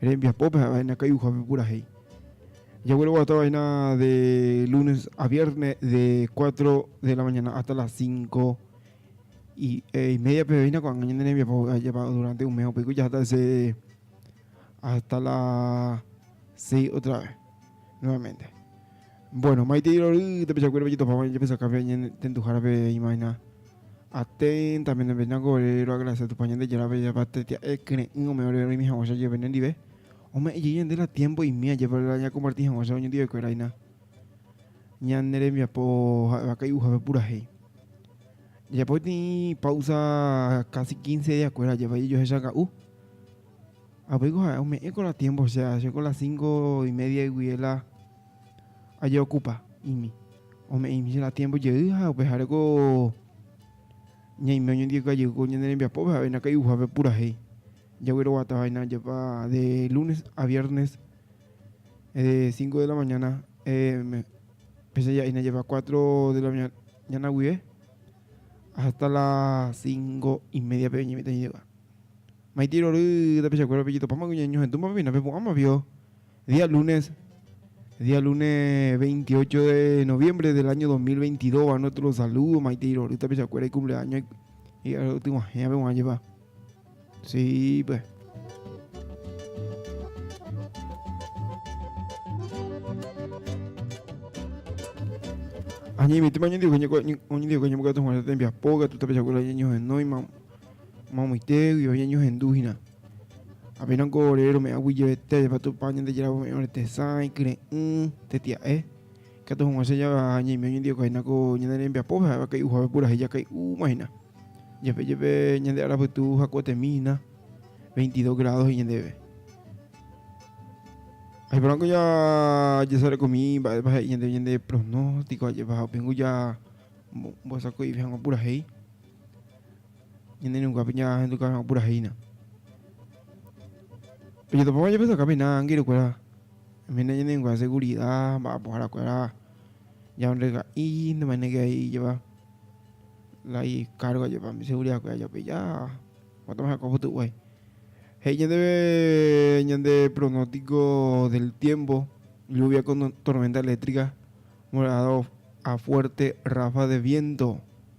Rembiapópe ha vaina kay'uhápe purahéi. Jagueroguata vaina de lunes a vierne de cuatro de la mañana hasta las cinco y, eh, y media peveína ko'ág̃a ñande rembiapo ajapa durante un mes upéiko jahata ese hasta la seis otra vez nuevamente. Bueno, maitei rory tapichakuérape jetopáma japesakápe añetenduhárape imágina. Aténta menembenáko ore roagradesia Tupã Ñandejárape japatetia'e kyre'ỹ ome ore roĩmi hag̃ua che jeve nendive, ome'ẽ jey ñande la tiémpo imi ajépa la ñakomparti hag̃ua che roñondive'ekuérahina ñane rembiapo ha'éva kay'uhápe purahéi. Jajapo tĩi páusa kási kínse diakuéra ajépa jejohechaka'u. Ha upéiko ha'e ome'ẽko la tiémpo che, che ko la sínko imédiaygui la ajeokupa imi, ome'ẽimi che ratiémpo jey ha upehareko ñaime oñondivekájeývo ko ñane rembiapópe ha oĩna kai'uhápe purahéi. Jagueroguata vaína jepa de lúnes a viérnes de cinco de la mañana, péicha ja'éina jepa cuatro de la mañana guive hásta las cinco y médiape oñemitãjeýva. Maitei rory tapichakuérape jetopáma kuña ñohetúmapa péina pepu'ãma pio. Día lunes, día lunes 28 de noviembre del año 2022, va nuestro saludo, maite irory tapichakuéra ikumpleaños otyguahẽva g̃uarã jepa. Sí, pues. Añemitýma oñondive ñembokatu hag̃uáicha tembiapo, katu tapichakuéra ñañohenóima, mamoite, oĩva ñañohendu hína. Apenas ko ore rome'ãgui jevetéjepa Tupã Ñandejára ome'ẽ ore tesã, ikyre'ỹ, tetia'e. Ikatu hag̃ua che java ñaime oñondivekáhina ko ñane rembiapópe ha'éva kay'uhápe purahéi jakay'úmahina. Jepe jepe ñande ára pytu hakuetemíhina veintidós grádo he'i ñandéve. Ajeporãko jajesarekomi mba'épa he'i ñandéve ñande pronóstiko ajépa ha upéngo ja mbosako'ive hag̃ua purahéi. Ñande runguápe ñaahenduka ha opurahína. Ojatopáma japesakamína ángeles kuéra, oimína ñande rungua segurida ha mba'apohára kuéra ñarondega'i ndemainéke ai ijeva la ikargo ajépa umi segurida kuéra ja'ope ja guata ma'e heko pytu'uguái. He'i ñandéve ñande pronóstico del tiempo, lluvia con tormenta eléctrica, moderado a fuerte ráfaga de viento.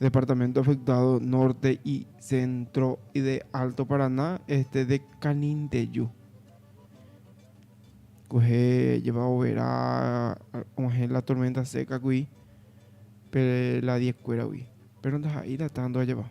Departamento afectado norte y centro de Alto Paraná, este de Caninteyu. Kuehe jepa overa og̃uahẽ la tormenta seca-gui pe la diekuéragui, péro ndaha'éi la tándoa jepa.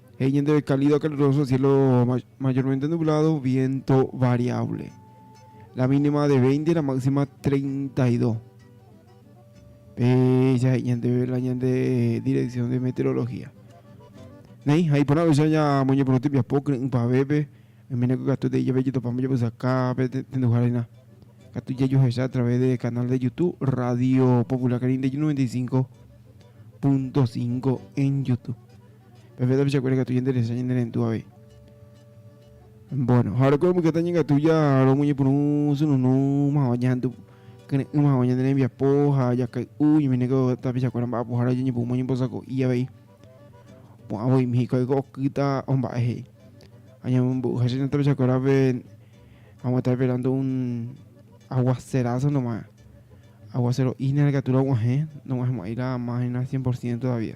He'i ñandéve cálido caluroso, cielo mayormente nublado, viento variable. La mínima de 20, la máxima 32. Pe ya he'i ñandéve la ñande dirección de meteorología. Néi, ha iporã oicha ña moñeporoty piapo kyre'ỹ pavépe, oimene ko katu tei jave jetopáma japysaka pe tenduharina. Katu jajuhecha a través de canal de YouTube Radio Popular Carindeyy 95.5 en YouTube. Pepéta pichakuéra ikatu jenderesa ñane rendu avei. Bueno, ha oreko rembykyeta ñegatu ja romoñepyrũ sununu mava ñahendu kyre'ỹ mava ñane rembiapo ha jakay'u ñominéko tapichakuéra mba'apohára ojeñepyrũma oñembosako'i avei. Pu'ã voimi hikuái oiko okýta omba'e he'i. Ha ñamombe'uha che tapichakuérape vamos a estar esperando un aguacerazo nomás. Aguacero'ína rekatu rog̃uahẽ, nog̃uahẽmo'ãi la más hína cien por ciento todavía.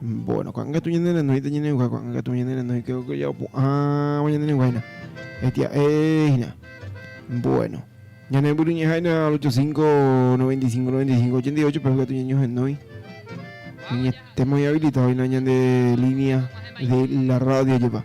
Bueno, ko'ágatu ñane renóita ñane'uha, ko'ágatu ñane renói, creo que ya opu'ãva ñane re'uháina. Etia'éhina. Bueno. Ñane mbyryñeháina al 85 95 95 88 pe hogatu ñañohenói. Ñetemo inhabilitadoina ñande línea de la radio jepa.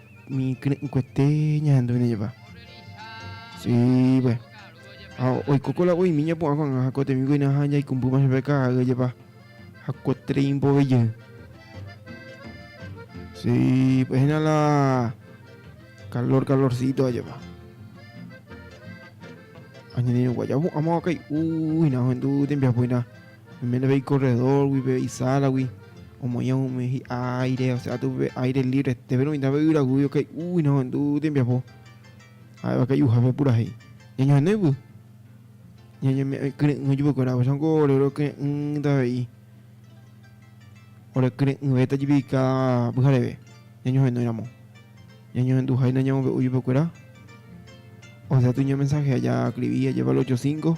Umi kyre'ỹkuete ñahenduvéne jepa. Sípe. Ha oiko ko la oĩmi ñapu'ã ko'ag̃a ha ko temípe ko'ína ha jaikumbýma chupe karai jepa. Ha ko tren mbove jey. Sípe. Hína la calor calorcito ha jepa. Añanderuguája opu'ãma kai'u hína ohendu tembiapo hína. Oiméne pe ikorredórgui, pe isálagui, omoĩ umi hi'a áire, osea aty upe áire livrete, péro mitã pe yvyragui okay'úgui nohendu tembiapo, ha'éva kay'uhápe purahéi. Ñañohene yvy, ñañeme'ẽ kyre'ỹ chupekuéra, upéicha niko ore orekyre'ỹta avei, orekyre'ỹvéta jepi káda pyhareve ñañohenóiramo. Ñañohenduháina ñamombe'u chupekuéra, osea aty ñamensahea, jaskrivi ajépa el ocho cinco.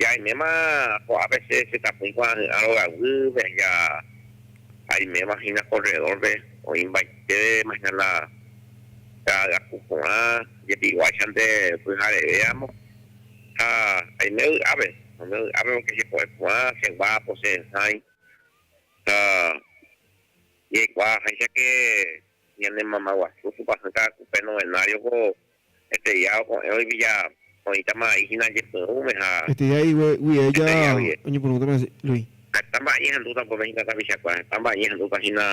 Jaiméma ko'ápe che chetapỹi kuaahy'ã rogaguýpe ja aiméma hína corredor-pe oĩmbaiteve mañana ka'agaku porã jepiguáichante pyhareve amo ha aime vy'ápe aime vy'ápe porque chepo'e porã cheguápo che'esãi ha jaikuaa aháichake ñane mamaguasu tupãsy ka'akupe novenario-ko Eteia oko'ẽ oiviya oĩtama vai hína jepyrũme ha. Eteia igue guie ella oñepyrũtama hese Luis. Heta mba'e ñehendúta upépe hína tapichakuéra, heta mba'e ñehendúta hína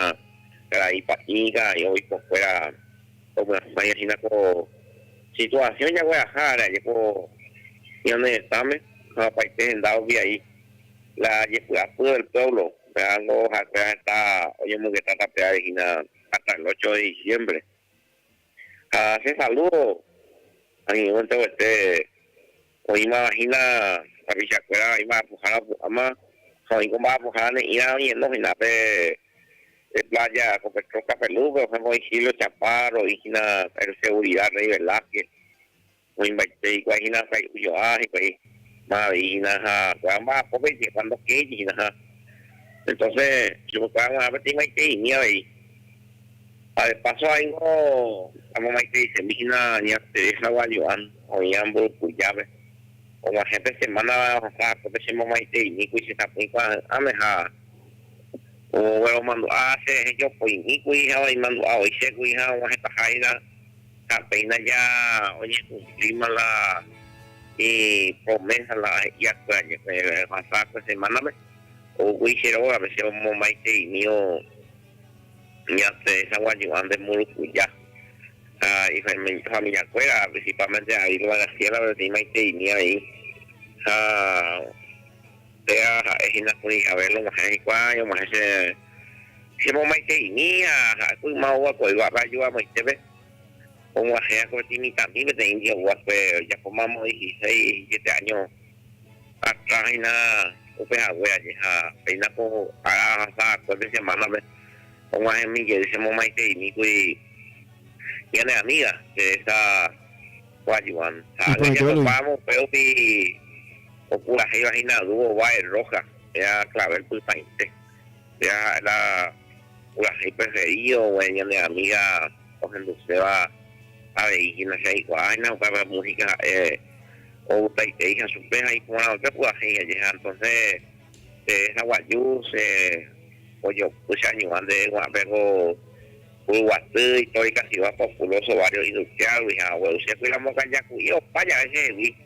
karai pa'i, karai oikokuéra omyasãi hína ko situasiõ jagueraha ára jeko ñane retãme ha opaite henda ovyai la jepy'apy del pueblo pérango ha'ekuéra heta oñomongeta tape ári hína hasta el ocho de diciembre. Ha che salúdo añe'ẽ enteroguete oĩmava hína tapichakuéra, oĩ mba'apohára opu'ãma ha oĩ ko mba'apohára ne'ĩva oñeno hína pe plája ko Petrol Café Luz-pe, por ehémplo, oĩ Silvio Chaparro, oĩ hína El Seguridad Rey Velázquez, Moĩmbaite hikuái hína ha itujo'a hikuái ma avei hína ha kuaa mba'apópe jeje cuando kéje hína ha entonces chupekuéra g̃uarã peteĩmaiteimi avei ha de paso aingo amomaiteisemi hína ña Teresa Gualluán oĩva Mburukujápe og̃uahẽ pe semana ohasa akópe che momaiteimíkuri che sapỹi kuaa'ỹ'ãme ha ogueromandu'a che rehe jopoimíkuri ha oimandu'a voi chékuri ha og̃uahẽtaha hína Ha péina ja oñekumplíma la ipromésa la he'iákue añetehákue semánape, oúkuri che rógape, che omomaiteimívo ñasẽ hagua ñu'ã nde Mburukuja. Ha ifamillakuéra, principalmente a Irma Graciélape, oñemaiteimi avei. Ha. Péva ha'e hína kuri Abel og̃uahẽ hikuái año og̃uahẽ che chemomaiteimi ha ha'éko yma oguakueguápe aju amoitépe og̃uahẽ akoreti mitãmi peteĩ ndiaguápe ojapóma moĩ hiséi hijete año atrás hína upe hague aje ha péina ko ára ahasa akue pe semana-pe og̃uahẽmi jey chemomaiteimi kuri ñane amiga Teresa Joan ha ág̃a jatopáramo upérupi Opurahéiva hína dúo vae rróha, péa klavél pytãite. Péa ha'e la purahéi preferido oguereko ñane amíga ohenduséva avei hína. Che aikuaa hína upéva la músika ha'e outaiteíha chupe ha iporãva'ekue purahéi aje. Ha entónse che resa guaju, che ojopy, che añuã ndéve ko'ã pe ko puru guaty itorikativa populóso vário idukiágui ha ogueru che kuirambokaja ku'i opa jave chehegui.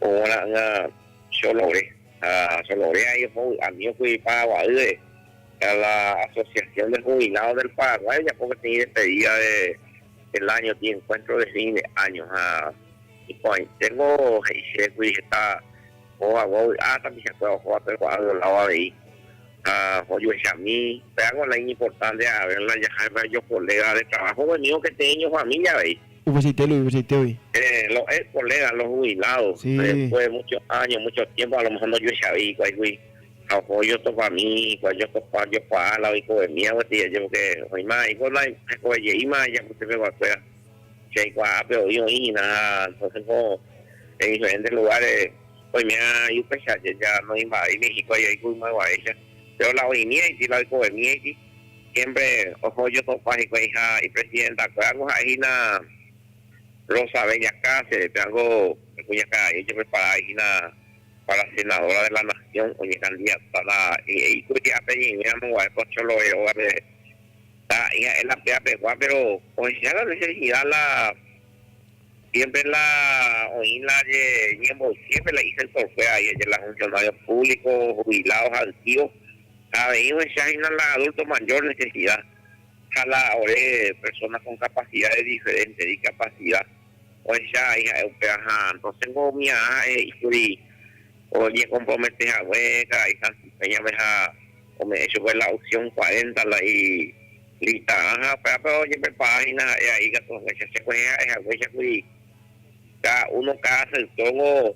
Óga ra'ỹa Cholore ha Cholore ai oho vy'ami oky Paraguaýre a la Asociación de Jubilados del Paraguay ojapo peteĩ despedida del año tĩ encuentro de fin de año ha iporãiténgo he'i chéve kuri heta ohovagua vy'a tapichakuéra ohóva pe kuaa violado avei ha ojuechami péako la iñimportante avérla jaháipe ajo colega de trabajo oñemívo peteĩ ñofamilia avei. Upeichaite Luis, upechaiteói. Eh, los ex colegas, los jubilados, después de muchos años, muchos tiempos, a lo mejor ndojueichavei hikuáigui ha oho ojotopa mi hikuái ojotopa ojokuaa la oikovemíva kotei aja porque oĩma aiko na hekove jeýma aja pytypeguakuéra che aikuaápe oĩ oĩhina ha entonces ko en diferentes lugares oime'ã iupeicha aja noĩmba'avéima hikuái aiko ymaguaréicha péro la oĩmívaiti la oikovemívaiti Siémpre oho ojosopa hikuãiha ipresidentakuéra ko ha'e hína Rosa Bella Cáceres, pévango pe kuñakarai ojepreparái hína pára senadóra de la nasión, oñekandidatáta he'i kuri ápe ñeñéramo guare ko Choloe róga peve. Tara'i ha'e la py'apegua, péro ohecha la nesesida la siémpre la oĩ la ñemboyképe la isektorkuéra, aje la funsionarios públicos, jubilados ha antigos. Ha avei ohecha hína la adulto mayor necesidad ha la ore persona con capacidades diferentes, discapacidad, ohecha vai ha'e upéva. Ha entonces-nko umi a'a ha'e he'i kuri oñecompromete hague karai Santi Peña-pe ha ome'ẽ chupe la opción cuarenta la y lista-rã ha upévape ojeprepara hína ha'e a'i katu haguéicha. Chekuehe ha'e haguéicha kuri. Cada uno, cada sector-gua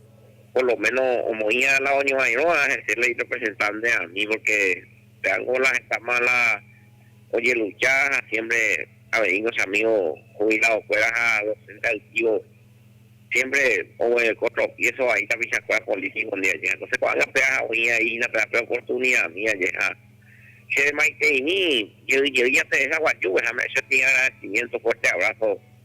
por lo menos omoĩ ala oñovairõva hese la irepresentante ani, porque pe Angola hetama la ojelucha ha siempre aveiño che amigo jubilado-kuéra ha docente altivo, siempre oguereko tropiezo vai tapichakuéra político-ndi aje. Entonces ko'ág̃a pe aja oĩ aĩ hína pe ápe oportunidad-mi aje ha che maiteĩmi jey jey jaterecha guajúpe ha me'ẽ che tĩ agradecimiento, fuerte abrazo.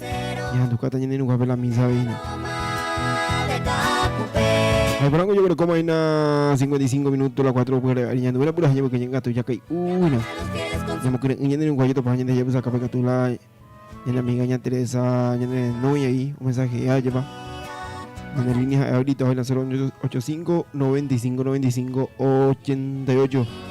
Ñahandukata ñaneirũhápe la misa avei hína. Ha'ekuérango ojeguerekóma hína 55 minuto la 4 pyhare ary ñanduvéna purahéi ñemboyke ñengatu jakay'u hína. Ñamokyre'ỹ ñaneirũha jetopaha ñande jajapysaka pe katu la ñane amiga ña Teresa ñane nóia ahí omensajea jepa. Ñane línea ha'e ahorita hoy la 085 95 95 88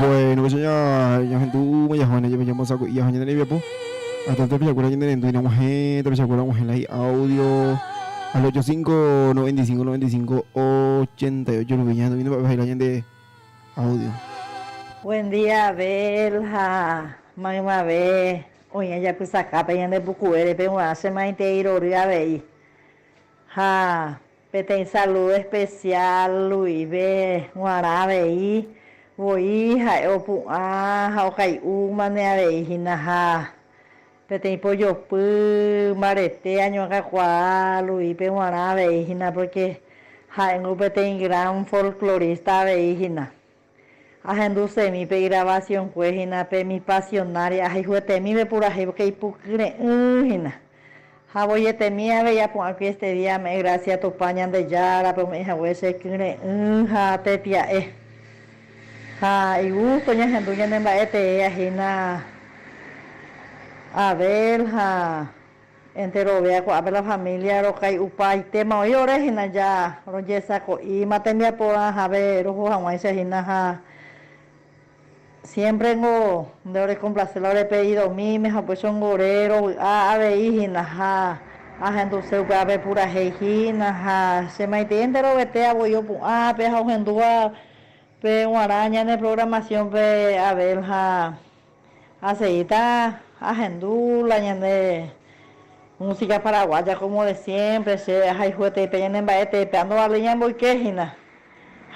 Bueno, pues ya ya gente uh, ya Juan, ya me llamo saco y ya gente de po. Hasta te pilla cura gente de no mujer, te pilla cura mujer ahí audio al 85 95 95 88 Rubiña, no vino para la gente audio. Buen día, Belja. Maimave, oña ya kusaka pe yande pukuere pe uache maite irori avei. Ha Peteĩ saludo especial Luisbe g̃uarã avei voi ha'e opu'ã ha okai'úmane avei hína ha peteĩ pojopy mbarete añoakakuaa Luispe g̃uarã avei hína porque ha'éngo peteĩ gran folclorista avei hína. Ahendusemi pe igravasionkue hína pe Mi Pasionaria ahayhuetemípe purahéi pórke ipukyre'ỹ hína. Ha voietemi avei apu'ãkuri este día ame'ẽ grásia Tupã Ñandejárape ome'ẽ hague che kyre'ỹ ha tepia'e. Ha igústo ñahendu ñanemba'e teéa hína Abel ha. Enterovia ko'ápe la familia rokay'upaitéma oĩ ore hína ja rojesako'íma tembiaporã jave roho hag̃uáicha hína ha siémpre niko nde orekomplase la ore pedidomíme ha upéichango ore rovy'a avei hína ha ahenduse upévape purahéi hína ha che maitei enterovete avoi opu'ã ápe ha ohendúva pe g̃uarã ñane programación-pe Abel ha Aseíta ahendu la ñande músika paraguáya kómo de siémpre, che ahayhuetei pe ñane mba'etépe, andovaléi ñamboyke hína.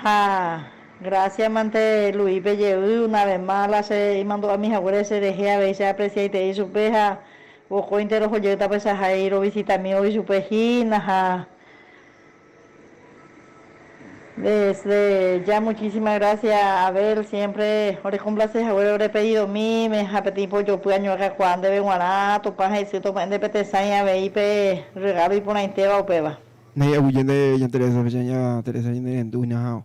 Ha grásiamante Luípe jey una ves más la che imandu'ami haguére cherehe avei che apresiaitei chupe ha vokóinte roho jey tape che ahai rovisitami oĩ chupe hína ha Desde ya muchísima gracia Abel siempre orekomplase haguére ore pedidomíme ha peteĩ pojopy añoakakuaa ndéve g̃uarã Tupã hesy tomo'ẽnte pe tesãi avei pe rregalo iporãitéva upéva. Néi aguyjénte ña Teresa, péicha ña Teresa ñanerendu ñahao.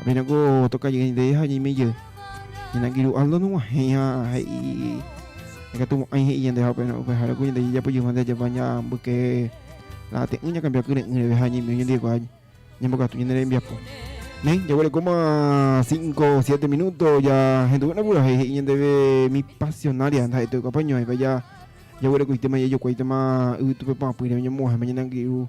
Apenas ko toka jey nde ha ñeime jey. Ñanangiru Aldo noguahẽi ha he'i ikatu mo'ãi he'i ñande ha upehare ko ñande jejapo jey mante ajapa ñambyke la ate'ỹ ñakambia kyre'ỹ reve ha ñeimiu ñandiekuaa ñembokatu ñane rembiapo. Néi, jaguerekóma 5 7 minuto ja henduve napurahéi he'i ñandeve mi pasionaria ndaha'ete oikua pañuãipa ja jaguerekoitéma jajokuáitema yvytupe pa'apỹre oñemoguahẽma ñanangiru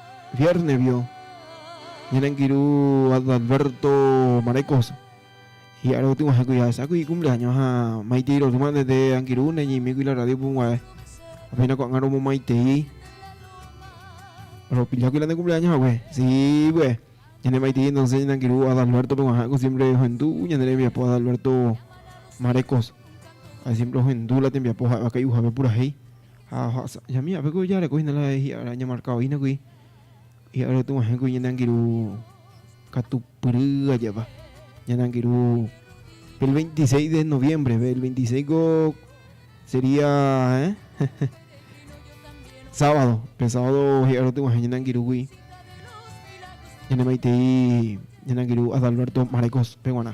Viérnesvio ñane angirũ Adalberto Marecos hi'ára gotyg̃uahẽkuri ahesákuri ikumpleáño ha maitei rory mante nde angirũ neñeimíkuri la rrádio punguae. Ha péina ko'ág̃a romomaitei ropillákuri la nde kumpleáño hague. Sýpe, ñane maitei entónse ñane angirũ Adalbértope guahãko siémpre ohendu ñane rembiapo Adalberto Marecos. Ha siémpre ohendu la tembiapo ha'evakái'uhápe purahéi. Ha ohasa'ajami ápe ko ijareko hína la hi'ára ñamarka oĩ nagui hi'ára otu'ãhẽ kuri ñande angirũ katupyry ajépa, ñande angirũ el 26 de noviembre, el 26 ko sería eh sábado, pe sábado hi'ára otu'ãhẽ ñande angirũ kuri ñande maitei ñande angirũ Adalberto Marecos peguarã.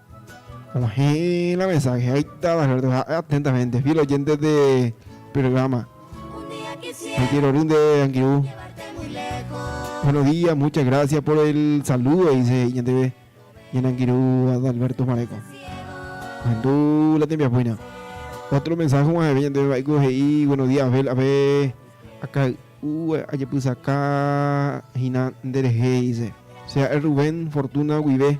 Oheẽ la mensaje ha itáta Alberto ha'e atentamente fiel oyente de programa. Reitero ry nde angirũ. Buenos días, muchas gracias por el saludo, dice ñandeve ñane angirũ Adalberto Mareco. Ohendu la tembiapoina. Otro mensaje más ha'eve ñandeve va'éko he'i buenos días Abel ape akay'u ajepysaka hína nderehe dice. Che ha'e Rubén Fortuna guive.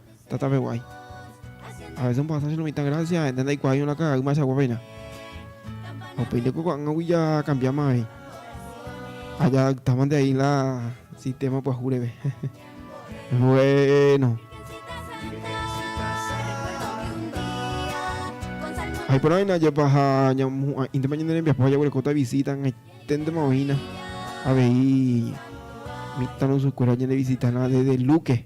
Tatápe guái. A veces omba'asa che no mitã gracia, ha'énte ndaikuaáiva la ka'aguy mba'echagua péina. Ha upéinte ko ko'ág̃agui jakambiáma avei. Ha jadaptámante avei la sistema pyahu reve. Bvuéno. Ha iporãvéina ajépa ha ñamohu'ã'íntema ñande rembiapo ha jaguerekóta visita hag̃aiténtema oĩna avei mitãrusukuéra oñenevisitárã desde Luque.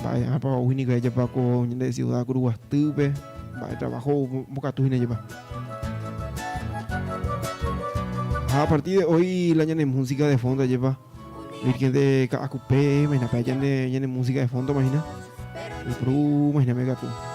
Mba'éichapa ou hína ikaijepa ko ñande siuda kuru guastýpe? Mba'e trabajo ou mbokatu hína jepa? Ha a partir de hoy la ñane música de fondo lleva Virgen de Caacupe, imagínate, ñane, ñane música de fondo, imagina. Y pru, imagíname, gato.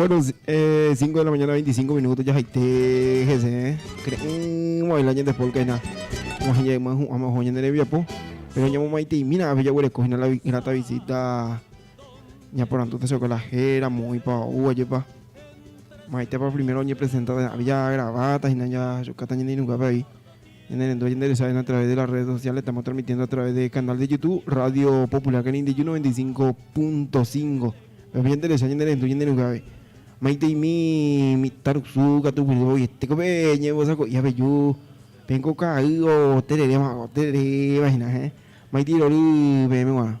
Bueno, eh, 5 de la mañana, 25 minutos, ya jaite, jese, creen, el año de polka, na, como se llama, vamos a joñar en po, pero ya mamá y mira, a ver, ya huele, coge la grata visita, ya por tanto, te soy con la jera, muy pa, uh, allí pa, maite pa primero, ya presentada, había grabata, y na, ya, yo, cata, ya ni nunca, ahí. Ñanerendu ha ñande resavéna a través de las redes sociales, estamos transmitiendo a través de canal de YouTube Radio Popular Canindeju 95.5. Pe'apo ñanderesa ñanerendu ñanderuhágui. Maitei'mi mitã rusu katu guive voi tekove ñembosako'i aveju peẽ ko ka'i otereréva otereréva hína heẽ. Maitei rory peẽme guarã.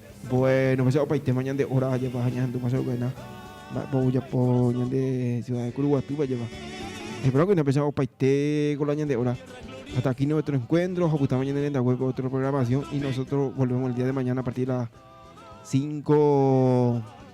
Bueno, pues opaitéma ñande hora ajapa ha ñahendúma che vokóina mba'épa ojapo ñande ciudad de Kuruguatýva jeva. Espero que napéicha opaite con la ñande hora. Hasta aquí nuestro encuentro, jopytáma ñande rendague con otra programación y nosotros volvemos el día de mañana a partir de las 5